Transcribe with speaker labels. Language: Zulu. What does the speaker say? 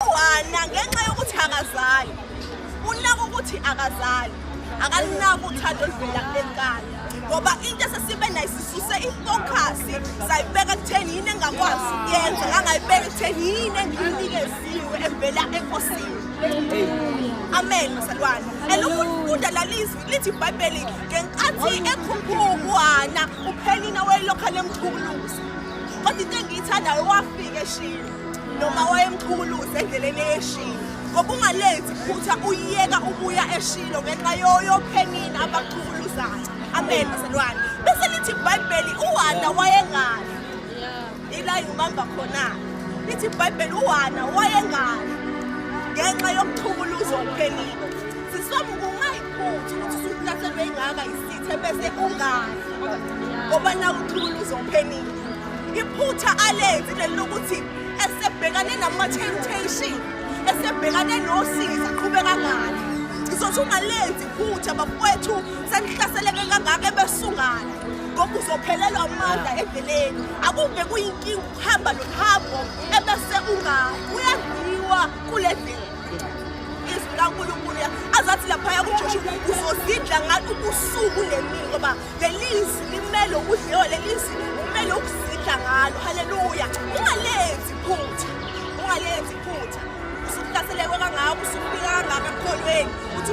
Speaker 1: Wana ngenxa yokuthi akazali. Unaka ukuthi akazali. Akalinaka uthando oluvela kulekani. Ngoba into esesibe nayo sisuse i-focus sayibeka kutheni yini engakwazi ukuyenza ngangayibeka kutheni yini engiyinikeziwe evela enkosini. Amen masalwane. Elokufunda lalizwi lithi iBhayibheli ngenkathi ekhukhukwana uphelina wayelokha lemthukuluza. Kodwa into engiyithandayo wafika eshilo. noma wayemchukuluza endleleni eyeshini ngoba ungalenzi phutha uyiyeka ubuya eshilo ngenxa yoyophenini abachukuluzayo amen bazalwane bese lithi ibhayibheli uhana wayengayo ila ngibamba khona lithi ibhayibheli uhana wayengayo ngenxa yokuchukuluzwa okuphenile sisoma kungayiphutha ukuthi usuhlaselwe ingaka Ithembese ungani ngoba nakuthula uzophenile iphutha alenzi leli lokuthi esebhekane nama-temptation esebhekane nosizi aqhube kangani ngizothi ungalenzi iphutha bafowethu senihlaseleke kangaka ebesungana ngoba uzophelelwa amandla endleleni akuve kuyinkinga ukuhamba nohambo ebese ungani uyadliwa kule ndlela izwi likankulunkulu azathi laphaya kujoshu uzozidla ngathi ubusuku nemini ngoba leli izwi limele ukudliwa leli izwi kumele ukuzidla ngalo haleluya ungalenzi iphutha ungalenzi iphutha usuhlaselekwe kangaka usufika kangaka ekholweni uthi